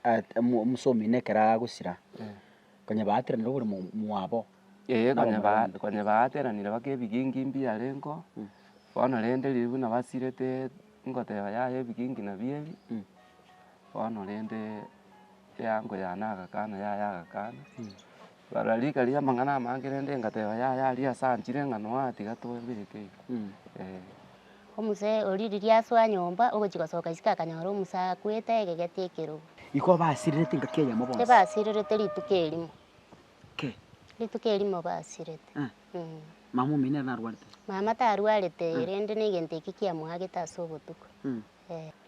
at- omo- omosomi nekero agosira, konya baateranire obore mo- mwabo. Ee, Nabo konya ba- morombe. konya baateranire baka ebigingi mbiarengeo, bono rende riria buna basirete ngoteba yaya ebigingi nabi ebi, bono rende eango yane agakana yaya agakana. Bara rika ria amang'ana amange rende ngateba yaya aria ase anchire ng'a noa tiga tobe eke eh. Omosae oria riria asoa nyomba ogochia gosoka isiko akanyora omosae akwete aegegete ekerogo. Iko basirerete engaki eyemo bonsi. Tibasirerete rituko erimo. Ke. Rituko erimo basirete. Eh. Mm. Mama omino nere narwarete. Mama tarwarete, rende negento ekio kiamoagete ase obotuko. Mm.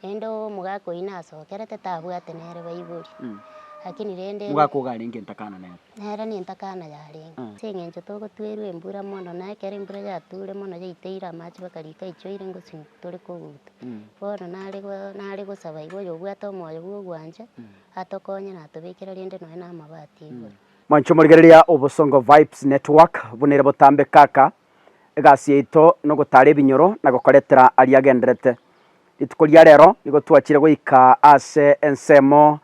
Naende omogaka oyio nasokerete tabwate nere baibori, lakini rende. Omogaka ogo arenge entakana nere. Nere nentakana yarenge. Ase eng'encho togotwerwa embura mono, na ekero embura yature mono yaiteire amache mpaka rika aichoire ngosimwa tore koguta. Bono nare go- nare gosaba iga oyobwate omoyo bwa ogwancha atokonye na atobekere rende nonya na amabati igoro. Mwancho morigereria obosongo vibes network buna ere botambe kaka egasi yaito nogotaara ebinyoro na gokoretera aria agenderete. Rituko ria rero nigo twachire goika ase ensemo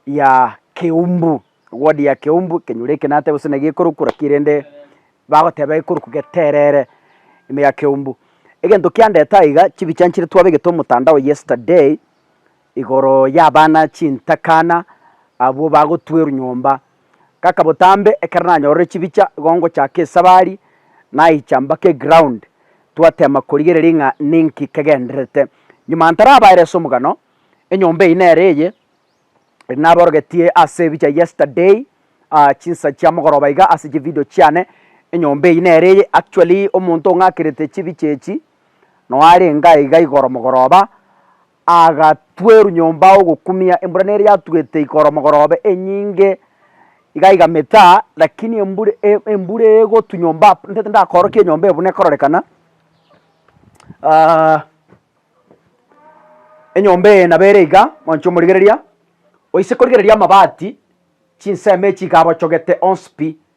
ya Keumbu, ward ya Keumbu, ekenyoro eke natebe gose nagi ekoruku naki rende bagoteba ekoruku geterere ime ya Keumbu. Egento kiandete aiga, chibicha nchire twabegete omotandao yesterday, igoro y'abana chintakana abwo bagotwerwa nyomba. Ngaka botambe ekero nanyorire chibicha igo ngochaka esabari naicha mpaka eground twatema korigereria ng'a ninki kegendererete. Nyuma ntarabaere ase omogano, enyomba eyio nere eye eri naborogetie ase ebicha yesterday chinsa chia mogoroba iga ase chividio chiane, enyomba eyio nere eye. Actually omonto ong'akerete chibicha echi noo arenge aiga igoro mogoroba. Agatweru nyomba ogokumia embura nere yatugete igoro mogorobe enyinge iga iga metaa lakini embura embura egotu nyomba ntete ndakorokia enyomba eye buna ekororekana enyomba eye nabo ere iga mwancho omorigereria oise korigereria amabati chinsemo echi iga abochogete onsi pi.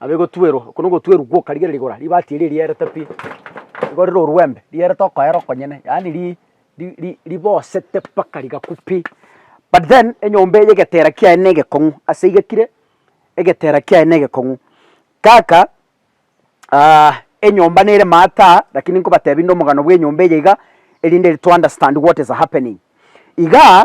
Abe gotwerwa, oko nogotwerwa gwoka rigere rigora, ribati eria rierete pi, nigo rire orwembe, rierete okoera okonyene, yaani ri ri ri ribosete mpaka rigaku pi. But then enyomba eye egetera kiaye na egekong'u ase igekire, egetera kiaye na egekong'u. Kaka enyomba nere maataa, rakini nkobatebi rinde omogano bw'enyomba eye iga, erinde to understand what is happening. Igaa,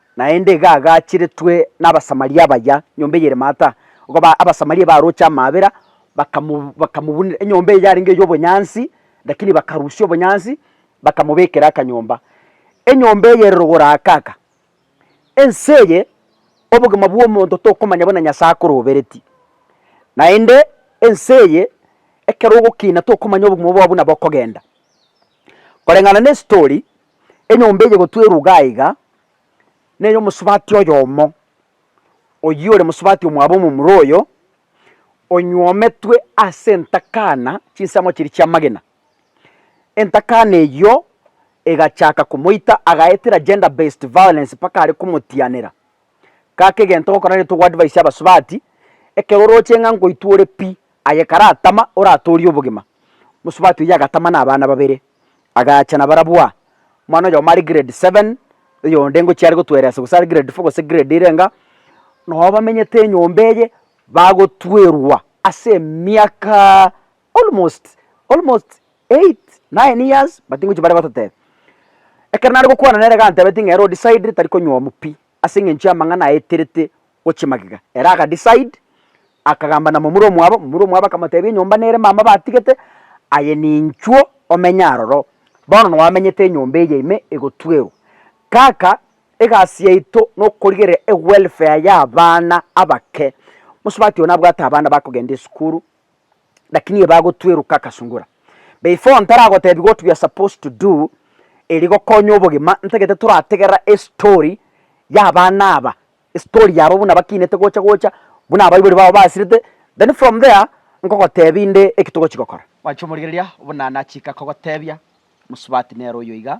Naende iga agachiretwe n'Abasamaria abaya, nyomba eye ere maata, okaba aa Abasamaria baroche amaabera, bakamu bakamobunera enyomba eye yarenge ey'obonyansi, lakini bakarusia obonyansi, bakamobekera akanyomba. Enyomba eye ere rogoro aa kaka. Ense eye, obogima bw'omonto tokomanya buna Nyasae akorobereti, naende ense eye ekero ogokina tokomanya obogima bwao buna bokogenda. Koreng'ana nestori, enyomba eye gotwerwa iga aiga ney'omosubati oyomo, oyio ore mosubati omwabo omomura oyo onyometwe ase entakana chinsemo chiria chi'amagena. Entakana eyio egachaka komoita agaetera gender based violence mpaka are komotianera. Gaka egento gokora nigo togo advise abasubati, ekero oroche ng'a ngoitwa ore pi, Aye karatama oratoorie obogima. Mosubati oyio agatama na abana babere, agacha na barabwo aa. Omwana oyomo are grade seven, oyonde ngochia are gotweresa gose are grade four gose grade ere enga, nabo bamenyete enyomba eye bagotwerwa ase emiaka almost almost eight, nine years but ngochia bare gototebia. Ekero nare gokwana nere gantebeti ng'a ere o decide tari konywa omo pi, ase engencho y'amang'ana aeterete gochia magega. Ere aga decide, akagamba na momura omwabo, momura omwabo akamotebia enyomba nere mama batigete, aye ninchwo omenye aroro, bono nwamenyete enyomba eye ime egotwerwa. Kaka egasi yaito nokorigereria ewelfare y'abana abake, mosubati one abwate abana bakogenda esukuru, lakini eba agotweroka akasungora. Before ntaragotebi what we are supposed to do eri gokonya obogima, ntagete torategerera estory ya abana aba, estory yabo buna bakinete gocha gocha, buna abaibori babo basirete, then from there nkogotebi inde eki togochi gokora. Gwancha omorigereria buna nachika kogotebia, mosubati nere oyoiga,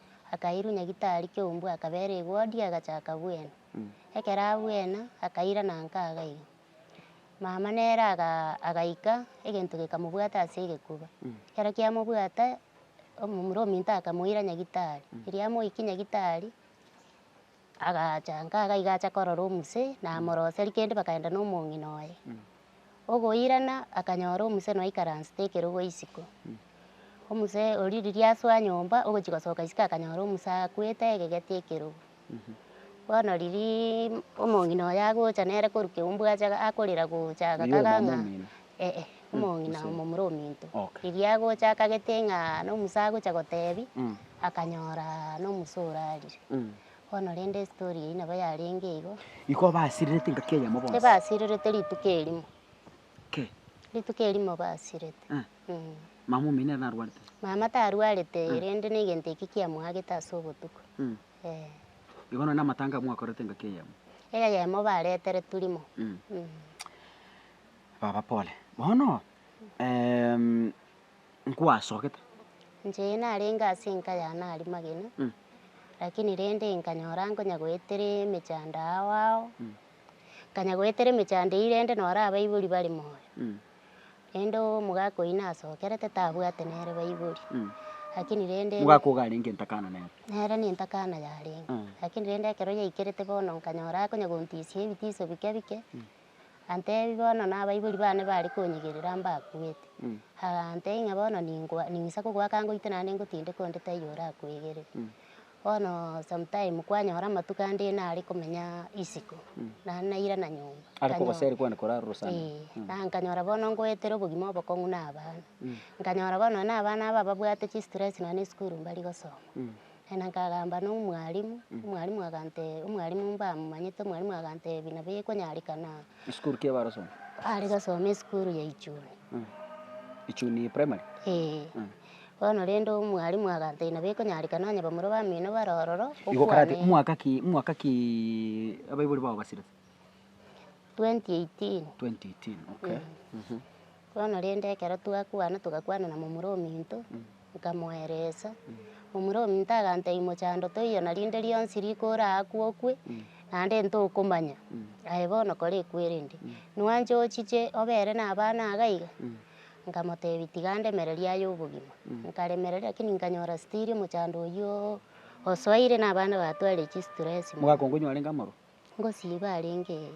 Akairwa nyagitari kiombwe akabera egodi agachaka bwena. Ekero abwena akaira na nkaga iga. Mama nere agaika egento gekamobwata ase egekuba. Ekero kiamobwata omomura ominto akamoira nyagitari. Riria amoikie nyagitari. Agacha, nkaga iga acha korora omuse, namoroseri kende bakaenda nomong'ina oye. Ogoirana akanyora omuse noikaransete ekerogo isiko. Omuse oria riria asoa nyomba ogochia gosoka isiko akanyora omuse akwete egegeti ekerogo. Bono riria omong'ina oye agocha nere korwa keumbwa acha akorera gocha agakaga ng'a Ee, omong'ina omomura ominto. Erio agocha akagete ng'a nomusa agocha gotebi, akanyora nomusa orarire. Bono rende estory eyio nabo yarenge igo. Igo basirerete engaki eyemo bonsi. Tibasirerete rituko erimo. Kei. Rituko erimo basirete. Mama omino ere narwarete. Mama tarwarete rende negento ekio kiamoagete ase obotuko. Ee. Igo nonye na amatanga mwakorete engaki eyemo. Eyemo baretere turimo. Baba pole. Bono em, nkwasogete. Inche narenge ase enka yane aria magena, Mm. lakini rende nkanyora nkonya goetera emechando ao ao, Mm. nkanya goetera emechando eyio rende nora abaibori bare moyo, Mm. rende omogaka oyio nasokerete tabwate nere baibori, Mm. lakini rende Mogaka iga arenge entakana nere. nere nentakana yarenge, Mm. lakini rende ekero yaikerete bono nkanyora akonya gontisia ebitiso bike bike, Antebi bono na abaibori bane bare konyigerera mbakuete. Agantebia ng'a bono ningoa ning'isa kogoaka ngoite naende ngotindeke onde taiyo orakoegerere. Bono sometime kwanyora amatuko ande nare komenya isiko, naende nairana nyomba. Are Kanyo- kogoseri kwande korara orosana. Ee, na nkanyora bono ngoetera obogima obokong'u na abana. Nkanyora bono nonya na abana aba babwate chistress nonya na esukuru mbari gosoma. Naende nkagamba, Nomwalimu. Omwalimu agante, Omwalimu mbamomanyete, Omwalimu agantebi, Nabo gekonyareka na. Esukuru ki ebarosomire? Are gasome esukuru ya Ichuni. Ichuni primary? Ee. Bono rende omwalimu agantebi, Nabo ekonyareka nonye bamura bamino bare ororo, Igo karati, okwane. mwaka ki, mwaka ki abaibori bao basirete? twenty eighteen. Twenty eighteen, okay. Bono rende ekero twakwana togakwana na momura ominto, nkamoeresa, momura ominto agantebia mochando toiyo na rinde rionsi riko oraakwe okwe, naende ntokomanya, aye bono kora ekwerende, nwancha ochiche obere na abana iga iga? Nkamotebia tiga ndemererie aye obogima, nkaremereria lakini nkanyora still omochando oyio osoire na abana batwarire chistress mono. Mogakongu onye orenge amorwa? Ngosiba arenge ee.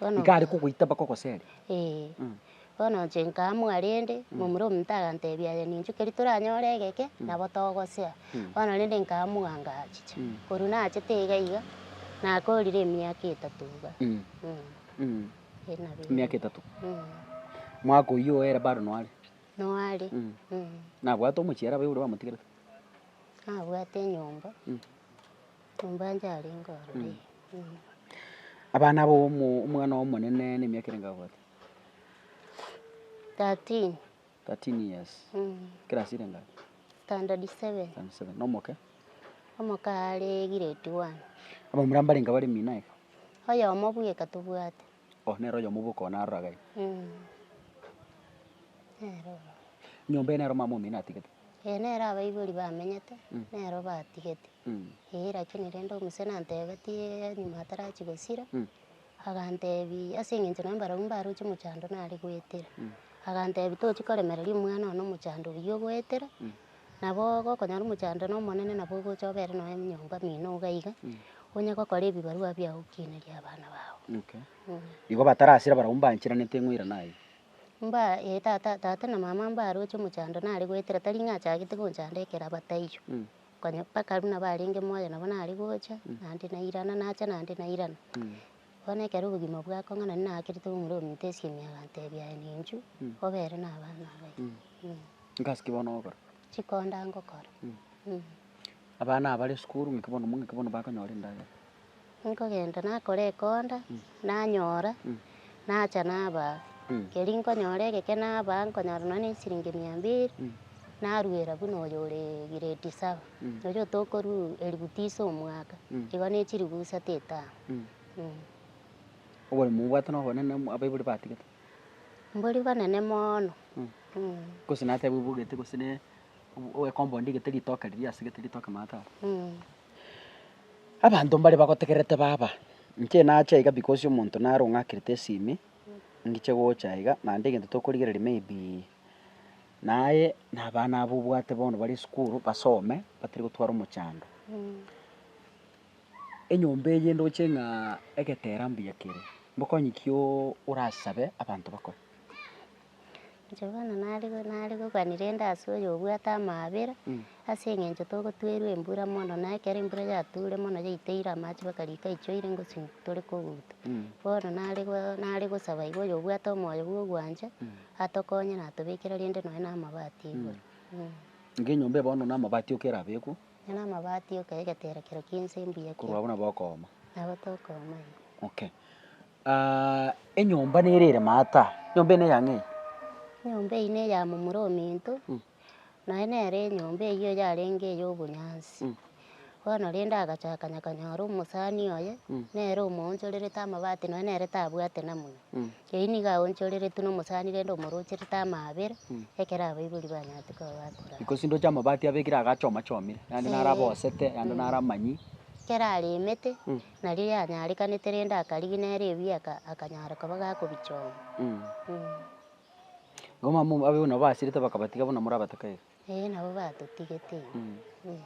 Bono. Iga are kogoita mpaka ogosere. Ee. Mm. Bono inche nkaa mwarende, momura omonto agantebia aye ninchuke riria toranyore egeke, nabo togosea. Bono rende nkaa mwanga achiche. Korwa nachete iga iga, nakorire emiaka etato iga. Mm. Emiaka etato. Mwaka oyio oo ere bado noare? Noare. Nabwate omochiera abe oria wamotigerete? Nabwate enyomba. Ombaancha arenge ororo ime. Abana abo omwana omonene nemiaka ere ngabwate? Thirteen. Thirteen years. Class ere ngae? Standard seven. Standard seven. Na omoke? Omoke are grade one. Abamura mbarenge bare mina iga? Oyomo bweka tobwate. Oh, nere oyomo bw'okoa narora gai. Mm. Nere oro. Nyomba eye nero mama omino atigete. Ee, nere abaibori bamenyete, Mm. nero batigete. Mm. Ee, lakini rende omuse nantebetie enyuma atarachi gosira, Mm. agantebi ase eng'encho naye mbarabwo mbaroche mochando nare goetera. Agantebi tochi koremereria omwana one omochando oyio ogoetera, Nabo gokonyora omochando na omonene nabo ogocha obere nonya enyomba mino iga iga, onye gokora ebibarua biao okinerie abana bao. Okay. Igo batarasira barabwo mbanchiranete eng'oira naye. Mba eh tata tata na mama mbaroche omochando nare goetera tari ng'a achagete gonchanda ekero aba taiyo. Konya mpaka runa barenge moyo nabo nare gocha, naende nairana nacha naende nairana. Bono ekero obogima bwakong'anani naakirete momura ominto esiemi agantebia, Aye ninchu, obe ere nabana abaye. Ngasi ki bono ogokora? Chikonda ngokora. Abana abare esukuru ng'aki bono ng'aki bono bakonyora endagera? Nkogenda nakora ekonda, nanyora, nacha nabaa. Keri nkonyora egeke nabaa nkonyora nonya ne esiringi mia mbiri, naruera buna oyo ore grade saba. Erio tokorua eribu tisa omwaka, igo ne chiribu isato etano. Oboremu mobwate na obonene abaibori batigete. Mbori bonene mono. Gose natebe obogete gose ne ecompund egete ritoke riria ase gete ritoke maate aria. Abanto mbare bagotegererete baba, inche nache iga because omonto naro ng'akerete esimi, ngiche gocha iga naende egento tokorigereria maybe Na aye nabana abo obwate bono bare esukuru basome batari gotwara omochando. Enyomba eye ndoche ng'a egetera mbuya kere, mbokonye ki orasabe abanto bakore? Johana narigokani rende ase oyo obwate amaabera, Ase engencho togotwerwa embura mono, na ekero embura yature mono yaiteire amache bakariika aichoire ngosina, tore koguta. Bono nare gosaba iga oyo obwate omoyo bw'ogwancha, Atokonye na atobekere rende nonya namabati igoro. Ng'a enyomba bono namabati oka erabekwe. Nonya namabati oka egetera kero ki'ense mbuya korwa abwo nabo okooma. Nabo tokooma eh. Okay. Enyomba nere ere maata? Enyomba eye neyang'ee? Enyomba eye neya momura ominto. Naye nere enyomba eyio yarenge ey'obonyansi. Bono rende agacha akanyakanyora omosani oye, nere omoonchorerete amabati nonya nere tabwate namuna. Eyio nigo aonchoreretwe nomosani rende omorocherete amaabera, ekero abaibori banyarete koba bakora aya. Gose ndoche amabati abekire iga achomachomire, yande naro Eeh. abosete, yande naro amanyi. Ekero aremete, nario yanyarekanete rende akarigia nere ebieka, akanyara koba gakobichoma. Abamama buna abwo basirete bakabatiga buna morabatoka iga. Ee, nabo batotigete iga, eh.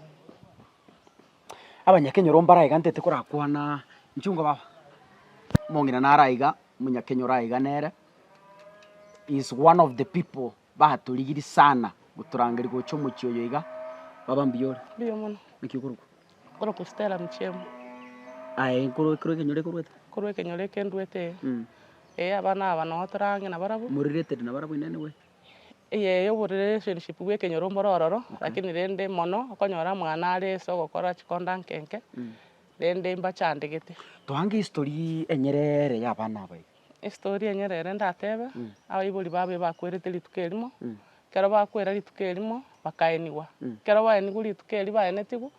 Abanyakenyoro mbare aiga ntete korakwana nchungo baba, omong'ina nare aiga, omonyakenyoro ore aiga nere, he is one of the people batorigirie sana gotorangeria gocha omochie oyo iga, baba mbuya ore? Mbuya mono. Naki okorokwa? Okorokwa Stella Muchemi. Aye korwa ekero ekenyoro ekorwete. Korwa ekenyoro ekenduete ee. Mm. Ee abana aba noo torange nabarabwo. More related nabarabwo inee nigwe? Eyee obo relationship bwa ekenyoro mbore ororo, lakini rende mono okonyora mwane are ase ogokora chikonda nke nke, rende mbachandegete. Toange history enyereere ya abana aba iga. Estory enyere ere ndatebe, abaibori babo ebakwerete rituko erimo, ekero bakwera rituko erimo, bakaenigwa. Ekero baenigwe rituko erio baenetigwe,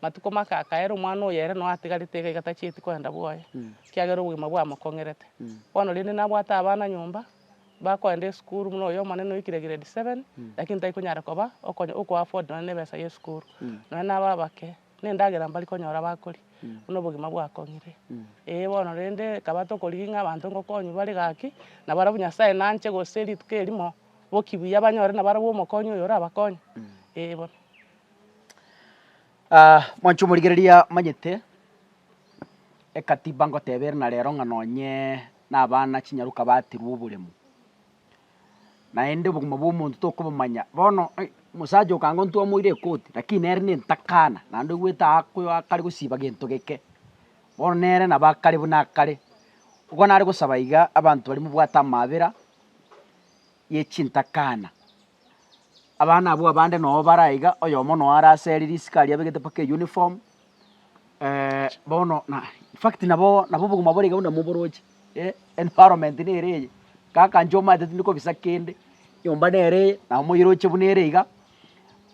matuko make akaera omwana oyo ere noo atigarete iga iga tachieti kogenda bwoye, ekiagera obogima bwamokong'erete. Bono rende nabwate abana nyomba, bakogenda esukuru buna oyo omonene oikire grade seven, lakini taikonyara koba okonya oko afford nonye na ebesa y'esukuru, nonye naba abake. Nendagera mbari konyora bakoria, buna obogima bwakong'ire. Ee bono rende, ekaba tokorigia ng'a abanto ngokonywa bare gaki, na barabwo Nyasae nanche gose rituko erimo, boki buya banyore na barabwo omokonyi oyo orabakonye. Ee bono. mwanche omorigereria amanyete ekatiba ngoteba ere na rero ng'a nonye na abana chinyaroka baaterwa oboremu, naende obogima bw'omonto tokobomanya. Bono eh, omosacha oo kanga ntwamoire ekoti, lakini nere nentakana, naende oigwete ako akare gosiba gento geke, bono nere nabo akare buna akare. Igo nare gosaba iga abanto baria mobwate amabera ye chintakana. Abana abwo abande noo bare aiga, oyomo noo arase ere risiko aria abegete mpaka euniform, bono na in fact nabo nabo obogima bore iga buna moboroche, environment nere eye, kaka inche omanyete tindi kobisa kende, nyomba nere eye, nabo moyiroche buna ere iga,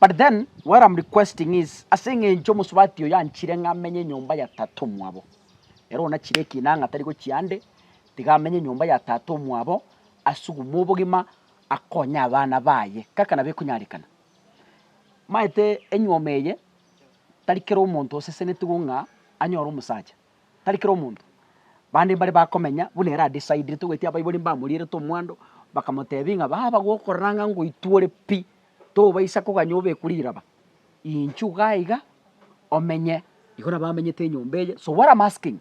but then what am requesting is, ase eng'encho omosubati oyo anchire ng'a menye nyomba ya tata omwabo, ere onachire ekina ang'a tari gochia ande, tiga amenye nyomba ya tata omwabo, asugume obogima, akonye abana baye, kaka nabo ekonyarekana. Omanyete enyuoma eye. tari kera omonto osesenetigwe ng'a anyore omosacha, tari kera omonto. Bande mbare bakomenya buna ere adeciderete ogweti abaibori mbamorierete omwando, bakamotebia ng'a baba gokorora ng'a ngoitwe ore pi, tobaisa koganya obekwe riraba, inchuga aiga omenye. Igo nabo amenyete enyomba eye, so what am asking.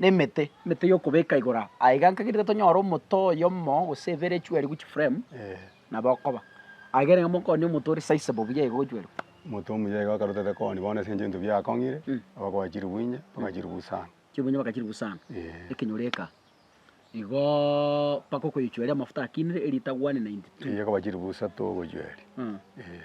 nemete, emete y'okobeka igoro aa, aiga nkagenderera tonyore omote oyomo gose ebere echuerigwe chiframe, nabo okoba. Aiga ereng'ana mokong'onia omote ore sizeable buya iga ogochuerigwa. Omote omuya iga akarutete kong'onia bono ase enchera ebinto biakong'ire, aba kwachirigwe inye, bakachirigwa usa aa. Chirigwa inye bakachirigwa usa aa. Eeh. Ekenyoro eke aa. Igoooo mpaka okoyechueria amafuta akinire, eritagwani 92. Eyi ekoba chirigwa usa too ogochueria. Eeh.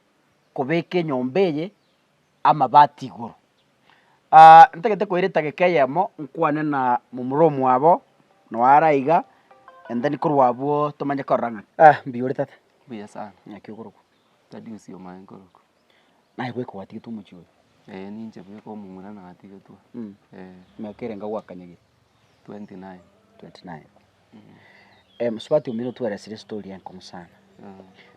kobeka enyomba eye amabati igoro. Ntagete koira etageka eyemo nkwane na momura omwabo noo are iga and then korwa abwo tomanye korora ng'a. Ah mbuya ore tata. Mbuya sana. Naki okorokwa. Tadi gose omae nkorokwa. Naye bweka gwatigetwe omochie oyo. Eeh ninche bweka omomura natigetwe. Mh. Eeh. Emiaka erenge gwakanyagete? Twenty nine. Twenty nine. Eh, mosubati omino tweresire story enkong'u sana.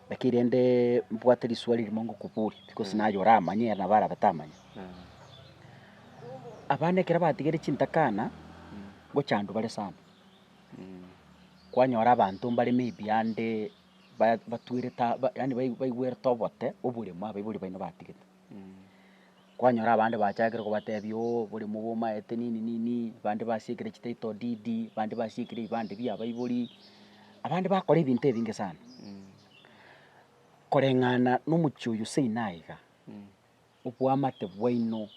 Lakini rende mbwate riswali rimo ngokoboria, because naye oramanye ere nabo arabe tamanye. Abana ekero batigire chintakana, ngochandwa bare sana. Kwanyora abanto mbare maybe ande ba- batwerete aba- yaani bai- baigwerete obote oboremo abaibori baino batigete. Kwanyora abande bachakire kobatebia oo boria mobe omaete nini nini, abande basiekire chititle deed, abande basiekire ebibande bia abaibori, abande bakora ebinto ebinge sana, koreng'ana na omochie oyio seino aye iga, obwamate bwaino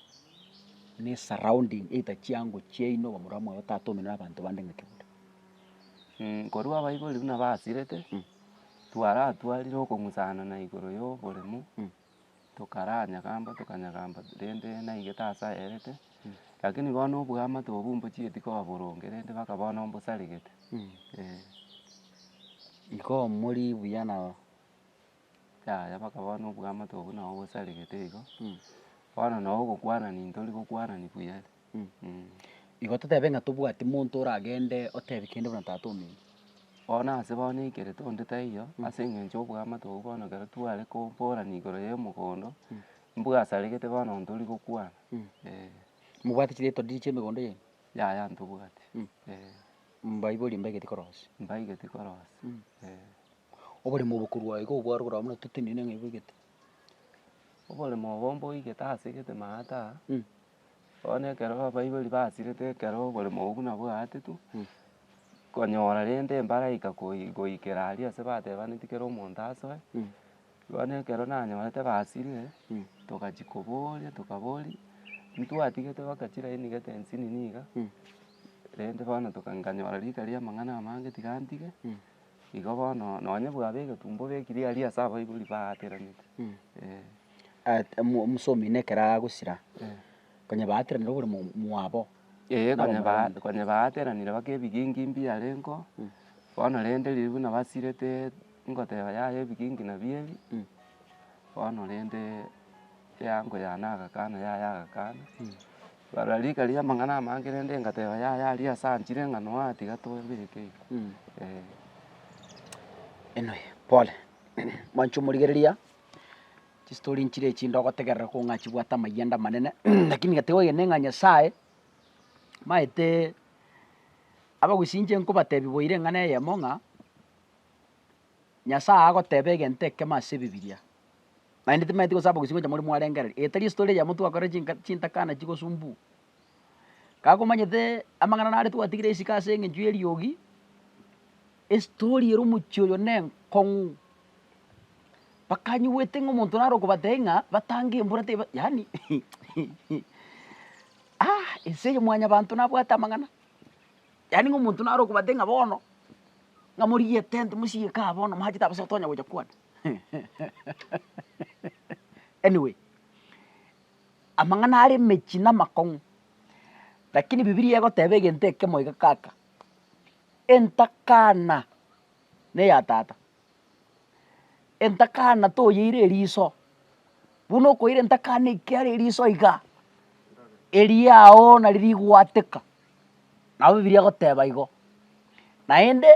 na esurrounding either chiango chiaino bamura mwago otagete omenwa na abanto bande ng'ake buna. Korwa abaibori buna basirete, twaratwarire okong'usana na igoro ya oboremu. tokaranyagamba tokanyagamba rende naige tasa aerete, rakini bono oboamate obwo mbochieti koba boronge rende mpaka bono mbosaregete, eh. Igo morie buya nabo. Yaya mpaka bono oboamate obwo nabo bosaregete igo, bono nabo ogokwanani ntori gokwanani buya. Igo totebe ng'a tobwati monto oragende otebi kende buna Tata ominto. Bono ase bono ekere tonde taiyo, ase engencho y'oboamate obwo bono ekero tware koborana igoro y'emogondo, mbwasaregete bono onde ori gokwana, eh. Mobwate chiriato riria chi'emegondo yaino? Yaya ntobwati, eh. Mbaibori mbaigeti korosia? Mbaigeti korosia, eh. Oboremo obo korwa iga obware korwa buna totenenine ng'a oboigete? Oboremo obo mboigete asegete maata. Bono ekero abaibori basirete ekero bore mogogo buna bwaatetwe, konyora rende embaraika koi- goikera aria ase batebaneti kera omonto asoe, bono ekero nanyorete basirire, togachia koboria tokaboria, ntwatigete baka chirainigete ensinini iga, rende bono toka nkanyora rika riamang'ana amange tiga ntige. Igo bono nonye bwaba egetunwa obekiri aria ase abaibori baatiranete. Omosomi na ekero agosira, konya baatiranire obore mwabo. Ee konya baatiranire baka ebigingi mbiarengo, bono rende riria buna basirete ngoteba yaya ebigingi nabio ebi, bono rende eango yane agakana yaya agakana, Barora rika ria amang'ana amange rende ngateba, yaya aria ase anchire ng'a noa tiga tobeke iko, eh. Inwe pole, mwanche omorigereria, chistori nchire echi ndogotegerera kong'u ng'a chibwate amayanda amanene, lakini gatiga ogende ng'a Nyasaye maete abagusii inche nkobatebi boira eng'ana eyemo ng'a, Nyasaye agoteba egento ekemo ase ebibiria. naende timaeti gosaba gosio gocha moria mwarengereria, etari estory eyemo twakorire chinka chintakana chigosumbua. Kagomanyete amang'ana nare twatigire esiko ase eng'encho y'eriogi, estory ere omochie oyo na enkong'u, bakanyigwete ng'a omonto nare okobatebi ng'a batange embura teba yaani ense eye mwanyabanto nabwate amang'ana, yaani ng'a omonto nare okobatebi ng'a bono, ng'a morigie etent mosirie kaa bono mwanchete abasato onye gocha kwane. Anyway, amang'ana are emechie na amakong'u, lakini bibilia egoteba egento ekemo iga kaka, entakana neya tata, entakana toyeire eriso, buna okoira entakana ekiara eriso iga, eriago nari rigwateka, nabo bibilia egoteba igo, naende.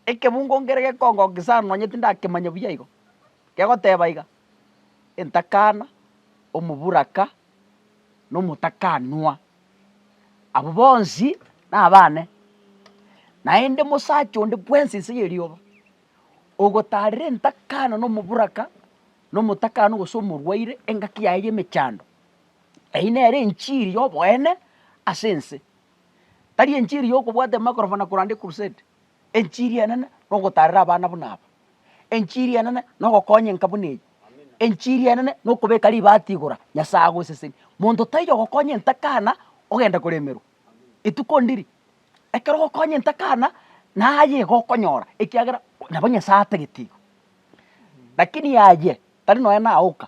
Ekebungo nkere gekongokia sana nonye tindakemanya buya igo, kegoteba iga, entakana, omoburaka, na omotakanwa, abwo bonsi nabane, naende mosacha onde bwensi nse y'erioba, ogotarera entakana na omoburaka, na omotakanwa gose omorwaire engaki yaye y'emechando, eyio nere enchiri y'oboene ase ense. Tari enchiri yokobwata emakorofo na koranda ecrusade, enchiri enene nogotarera abana buna aba, enchiri enene nogokonya enka buna eye, enchiri enene nokobeka ribati igoro Nyasaye agosesenie. Monto taiyo ogokonya entakana ogenda koremerwa, rituko ndiri ekero ogokonya entakana naye igo okonyora ekiagera nabo Nyasaye atagete igo. Lakini aye tari nonye naye oka,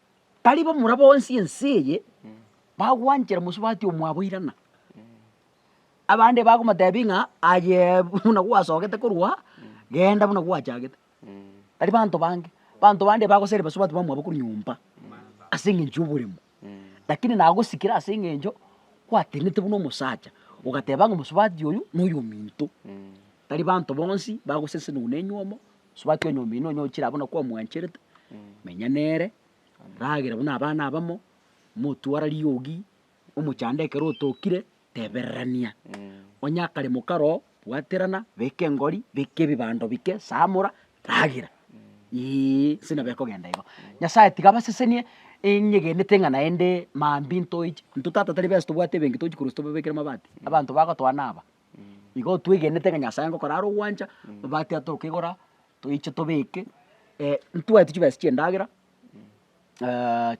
Baria bamura bonsi ense eye bagwanchera mosubati omwabo irana. Abande bagomotebia ng'a aye buna gwasogete korwa genda buna gwachagete. Baria banto bange, banto bande bagoseri basubati bamwabo korwa nyomba ase eng'encho y'oboremu, lakini nagosikire ase eng'encho gwatenenete buna omosacha, ogateba ng'a mosubati oyo noyominto. Tari banto bonsi bagoseseniwa nenywomo. Subati onyomba ino onye ochire abwo nakwo omwancherete, menya nere, ragera buna abana abamo, motwara riogi, omochande ekero otokire, tebererania. Onye akaremo karoo, bwaterana, beka engori, beka ebibando bike, samora, ragera. Eeh nse nabo ekogenda igo. Nyasaye tiga abasesenie enyegenete ng'a naende mambia ntoechi, intwe tata tari bensi tobwate ebenki tochi korwa ase tobabekera mabati, abanto bagotwana aba. Igo twegenete ng'a Nyasae ngokora are ogwancha, amabati aya tokegora toiche tobeke ntwagete chibesa chi'endagera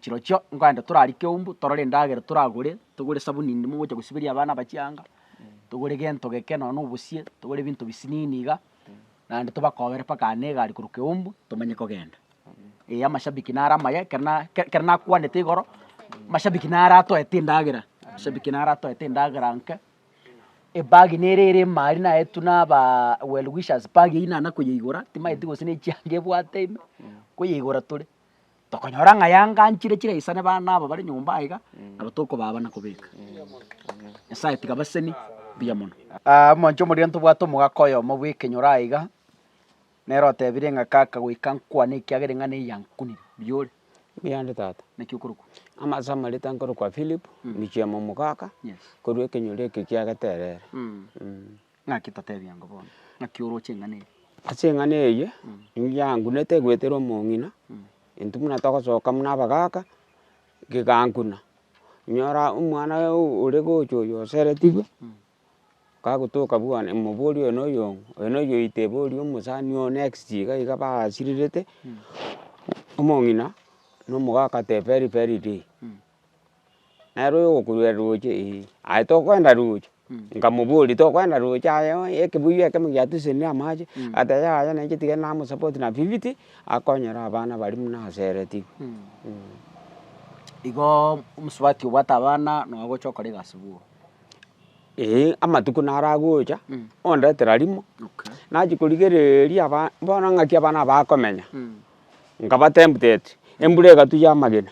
chirochio nkoenda torarike umbu torore endagera toragore, togore esabuni ndimo ngocha gosiberia abana aba chianga, togore gento geke nonya na obosie, togore ebinto bisinini iga, naende tobakobere mpaka aa na egari korwa Keumbu tomanye kogenda. Ee amashabiki nare amaya ekero na ke- kero nakwanete igoro, mashabiki naro atoete endagera, mashabiki naro atoete endagera nke. Ebag nere ere imari naetwe na aba well wishers bag eywo nana koyeigora timaeti gose nechianga ebwate ime koyeigora tore tokonyora ng'a yanganchire chire isane bana aba bare nyomba aye iga nabo tokobaa abana kobeka. Nyasaye tiga baseni mbuya mono. Omonto omoria ntobwate omogaka oyomo bw'ekenyoro aiga. Nere otebirie ng'a, Kaka, goika nkwane, ekiagera eng'ana eye yankunire. Riore. Mbuya ande tata. Naki okorokwa? Amase amarita nkorokwa Philip, michie ime omogaka, korwa ekenyoro eke kia Geterere. Naki totebie ango bono? Naki oroche eng'ana eye? Ase eng'ana eye, nigo yankunete egoetera omong'ina, intwe buna togosoka buna abagaka, gegankuna. Nyora omwana oyo ore gocha oyo oseretigwe, Kagotoka bwane omobori oyo na oyong'o, oyo na oyong'o oite ebori omosani ogo next iga iga basirirete, omong'ina na omogaka agoteba very very day, nere oyo ogokururera roche ee, aye tokoenda roche, nkamoboria tokoenda roche aye oo ekebuyu ekemo giatusenire amache, agateba yaya nainche tiga namo support na fifty, akonyere abana baria buna asereti igo omosubati obwate abana nonya gocha okora egasi boo. Eeh amatuko naragocha ondetera rimo nachia korigereria aba bono ng'aki aba nabakomenya nkaba tempted embura egatu ya amagena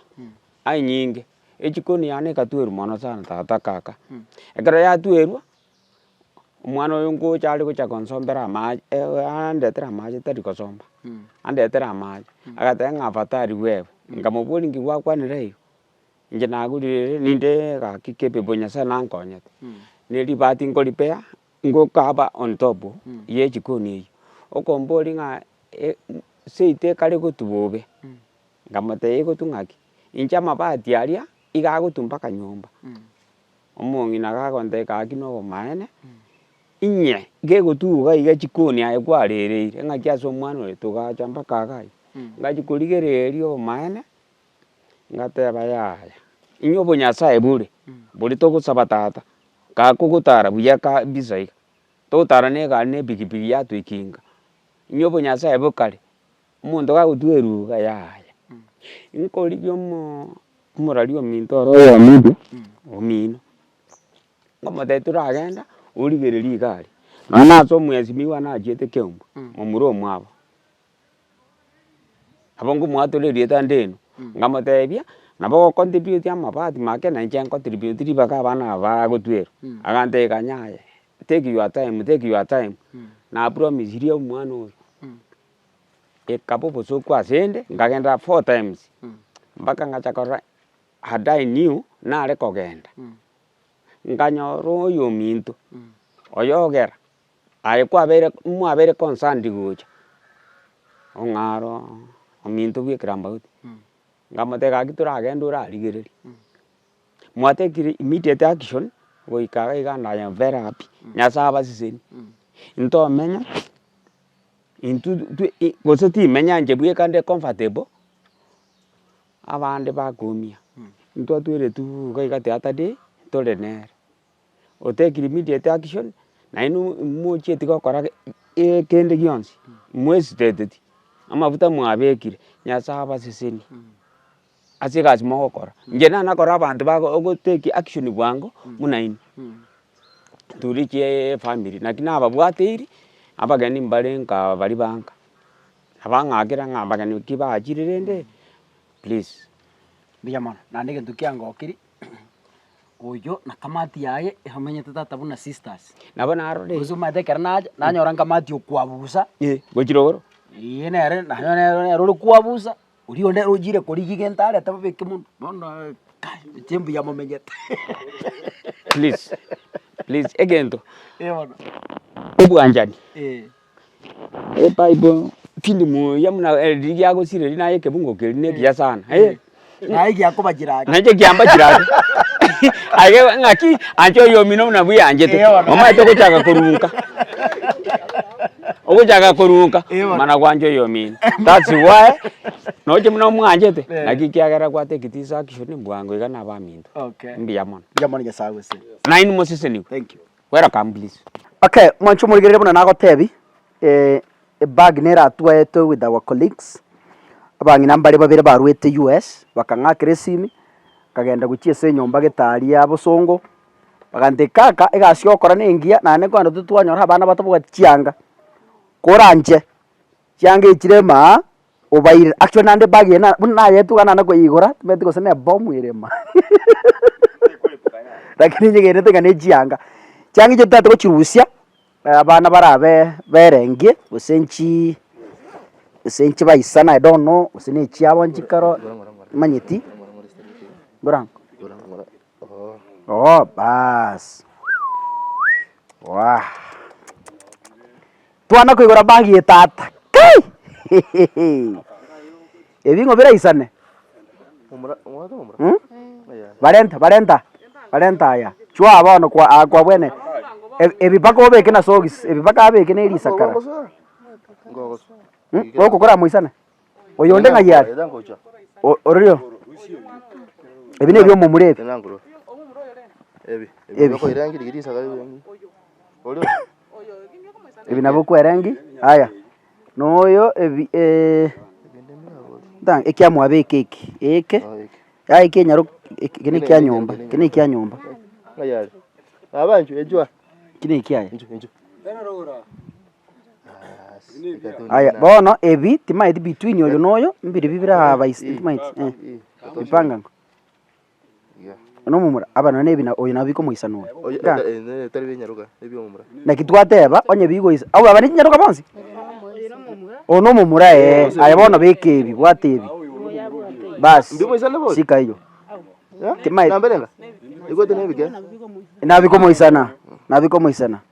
anyinge echikoni yane egatwerwa mono sana tata kaka ekero yatwerwa omwana oyo ngocha are gocha konsombera amache andetere amache tari kosomba andetere amache agateba ng'a afadhali wewe nkamoboria ng'a gwakwanire igo Inche nagurire ere ninde egaki kebe bo nyasaye nankonyete, ne ribati nkoripea ngokaba on top ye ejikoni eywo, okomboria ng'a seito ekare gotu bobe, nkamotebia egotu ng'aki? Inche amabati aria iga agotu mpaka nyomba, omong'ina iga agontebia egaki na obomaene, inye gegotu iga iga chikoni aye kwarereire ng'aki ase omwana oyo togacha mpaka iga aye, ngachia korigereria obomaene. Ngateba, Yaya, inya obonyasae bore, boria togosaba tata, kabe kogotara buya kabisa iga, togotara ne egari ne epikipiki yatoekinga, inya obonyasae bokare, omonto kagotugwa eruga, yaya, nkorigia omoo omorwaria ominto oro oyominto, omino, nkomotebia toragenda origererie egari, nonye ase omwesimiwa nachiete ekeumbu momura omwabo. Nabo ngomwatorera erieta ndeno, nkamotebia, nabo ogocontribute amabati make na inche ncontribute ribaga abana aba bagotwa ero, agantebia kanya aye, take your time, take your time, napromisirie omwana oyo, ekaba obosoku asende, nkagenda four times, mpaka ngacha korora had I knew nare kogenda, nkanyora oyominto oyogera. Aye kwabeire mwabeire concerned gocha, ong'aro ominto bw'ekerambaoti, nkamoteba gaki toragende orarigereria, mwa take immediate action goika iga iga I am very happy, Nyasaye abasesenie, ntomenya intwe twe i gose timenya inche bweka nde comfortable, abande bakoumia, intwe atweretu iga iga the other day tore nere. otekiri immediate action naende mochieti gokora kende gionsi mwesiteteti amafuta mwabekire nyasaye abaseseni ase egasi mogokora inche nabo nakore abanto bago ogoteki action bwango buna inwe turichiee efamiri naki nababwateiri abageni mbare nkaa bari bangaa abang'akera ng'a abageni ki baachire rende please. Mbuya mono naende egento kiangokiri. Oyio na kamati yaye eromenyete tata buna sisters. Nabo narorire. Bonsi omanyete ekero nacha nanyora nkamati okwabusa. Eh, gochire igoro. Ee nere nanyora nere nere ore kwabusa, oria onde nere ochire korigia egento arete babeke monwe. Bono eh kai inche mbuya momenyete. Please, please egento, Eh bono. obwanchani. Eh. Ebible filimu eria buna riria giagosire naye ekebungo keria ne ekiya sana eh. Naye giakobachire ake. Nainche giambachire ake aye ng'aki anche oyomino buna bweanchete omanyete ogochaka korunka ogochaka korunka mana gwancha oyomino that's why noche buna omwanchete naki ekiagera a take it easy action bwango iga na abaminto. Mbuya mono. Mbuya mono Nyasae agoseseni. Nainwe mosesenigwe. Welcome please. Okay, mwanche omorigerere buna nagotebi, ebag neratwaetwe with our colleagues, abang'ina mbare babere barwete US, bakang'akera esimi, nkagenda gochia ase enyomba getaari ya bosongo, bagantebi kaka egasi yokora nengiya, naende nkwenda totwanyora abana bato bobwati chianga, koranche. Chianga echi rema aa obairire. Actually naende ebag eye buna nayetuga naende koyeigora tibeti gose ne bomu erema lakini nyegenete ng'a nechianga. Chianga echi totagete gochirusia abana barabe berengie gose nchii gose nchibaisana i don't know gose ne echiabo nchikaro manyeti bora oo baas waah. Twana koigora bag ye tata kai ebing'o biraisane um barenta barenta barenta aya chwaa bono kwa aa kwa bwene ebi ebipaka obeke na socks ebipaka abeke na erisakara um gokokora moisane. Oyonde ng'ai are? O- Ororio. Ebi nebi'omomura ebi. Ebi. Ebi nabio okwerengi. Aya. Noyo ebi eh, nta- ekia mwabeka eki, eke. Yaya eki enyare ok- eki eki nekia nyomba, eki nekia nyomba. Eki nekiaye. Aye bono ebi timaeti between oyo na oyo mbiribio birabaisa timaeti eh bipangango. Buna omomura aba nonye na ebi na oyo nabo bikomoisana oyo igaa. Naki twateba onye bigoisa abwo baba ne chinyaroka bonsi? Oyo na omomura eeh aye bono beka ebi bwata ebi basi sika eyo timaeti nabo bikomoisana nabo bikomoisana.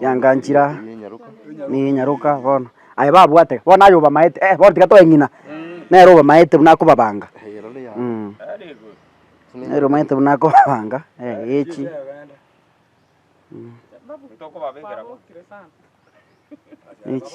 Yanga nchira nigo enyaroka bono, aye babwate bono aye obamaete eh bono tiga toeng'ina, nere obamaete buna akobabanga mh. Nere omanyete buna akobabanga echi mh. Echi.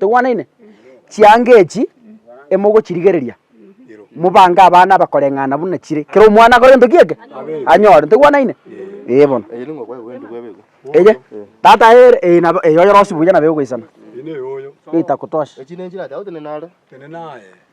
Togwanaine? Chianga echi emogochirigereria, mobange abana abakoreng'ana buna chire, kera omwana akore gento ki'eke? Anyore. Togwanaine? Ee bono. Eye, tata aye ee nabo ee oyorosie buya nabo egoisana. Geita kutosha.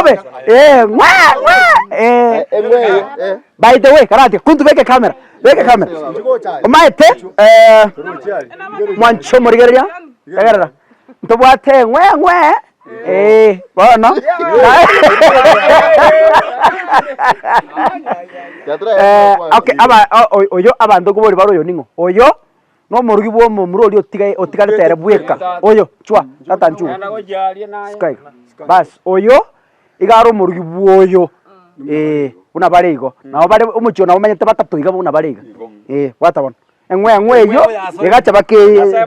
obe eh, ng'wa ng'wa eh. by the way karati kuntu beke kamera beke kamera omaete eh, mwancho omorigereria tegerera ntobwate ng'we ng'we eh, bono Eh, okay, aba- o- o- oyo abanto kobori bare oyo ning'o oyo Nomorogi bw'omomura oria otigaire otigarete ere bweka, oyo, chwa, tata nchugwa, sika iga, bas, oyo iga are omorogi bw'oyo, eeh, buna bare igo. Nabo bare omochie oo nabo omanyete batato iga buna bare iga, eeh, bwata bono. Eng'we eng'we eyio egacha baka eeh.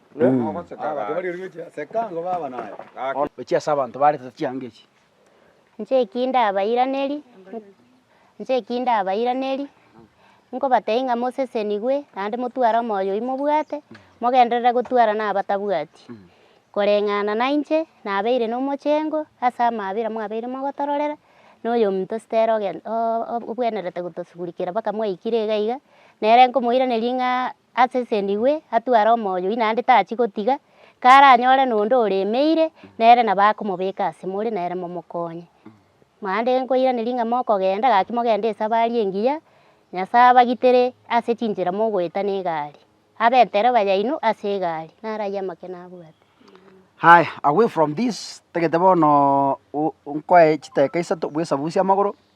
Ochia ase abanto baarete chianga echi. Inche eki ndabairanerie, inche eki ndabairanerie, nkobatebi ng'a mosesenigwe, naende motware omoyo oyio mobwate, mogenderere gotwara na abatabwati. Koreng'ana nainche, nabeire nomochengo ase amaabera mwabeire mogotororera, na oyominto Stella ogen o- o- obwenerete gotosugurikera mpaka mwaikire iga iga, nere nkomoiraneria ng'a. Asesenigwe, atware omoyo oyio, naende tachie gotiga karanyore nonde oremeire, nere nabo akomobeka ase more, nere momokonye. Naende nkoiraneria ng'a mokogenda, gaki mogende esabari engiya, Nyasae abagitere ase chinchera mogoeta na egari, abe entereba yaino ase egari, naro ayio amang'ana nabwate. Haya, away from this, tagete bono nkoe chidakika isato bw'esabusie amagoro,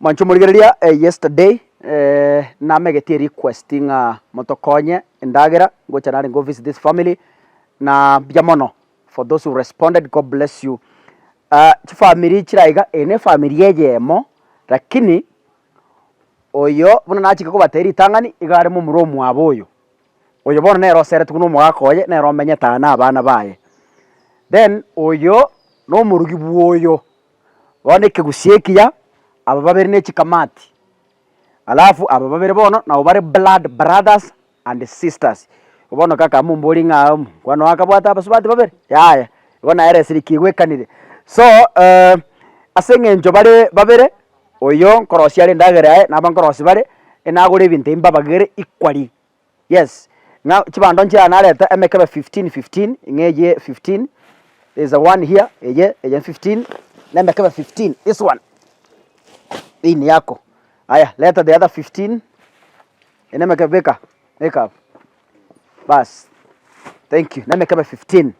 Mwancha omorigereria eh yesterday namegetie erequest ng'a motokonye endagera ngocha narenge go visit this family na mbuya mono for those who responded God bless you. Chifamiri chire aiga eye nefamiri eyemo lakini oyo buna nachake kobatebia ritang'ani iga arimo omorwa omwabo oyo Oyo bono nere oseretwe buna omogaka oye, nere omenyete aa nabana baye. Then oyo nomorugi bwoyo, bono ekegusii ekiya, aba babere ne chikamati, alafu aba babere bono nabo bare blood brothers and sisters. Igo bono kaka momborie ng'a aa omwana oo akabwate abasubati babere? Yaya, igo nere esiriki igoekanire. So ase eng'encho bare babere. Oyo nkorosia are endagera yaye, naba nkorosia bare, enagore ebinto ebi mbabagere equally, yes, ng'a chibando nchiaye narete emekebe fifteen fifteen, ng'a eye fifteen is a one here, eye eye fifteen, na emekebe fifteen, this one hii ni yako, aya leta the other fifteen, eye nemekebe beka, beka. Bas thank you, nemekebe 15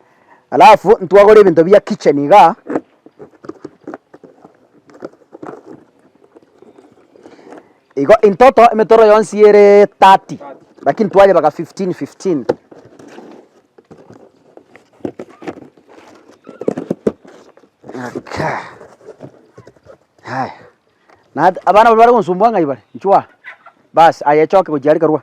alafu ntwagore ebinto bia kitchen iga igo intoto emetoro yonsi ere 30 lakini twayebaka 15 15 Okay. Haya. Na abana bari bare gonsumbua ng'ai bare? Nchwa. Bas, aya echoke gochia are karua.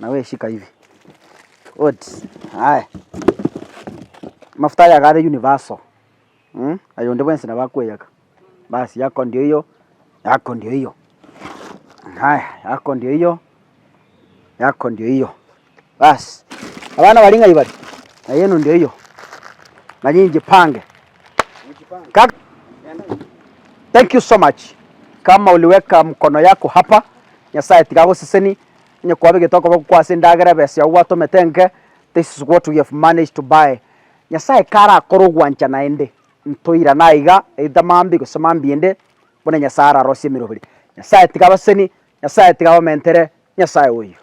Nawe shika hivi. Oti aye amafuta aya iga are universal mh, aye onde bwensi nabo akoyaka, bas yaka onde oyo, yaka onde oyo, haya yaka onde oyo, yaka onde oyo, bas abana baria ng'ai baria? Naye na onde oyo, naye inche pange. Kaka, thank you so much. Kama oliweka mkono yako hapa, Nyasaye tiga agoseseni, onye kwaba egento akoba gokwa ase endagera ebesa yao gwatomete enke, this is what we have managed to buy. Nyasaye karakore ogwancha naende, ntoirane aiga, either mambia gose mambiende, buna Nyasaye ararosie emeroberi. Nyasaye tiga abaseseni, Nyasaye tiga abamentere, Nyasaye oyio.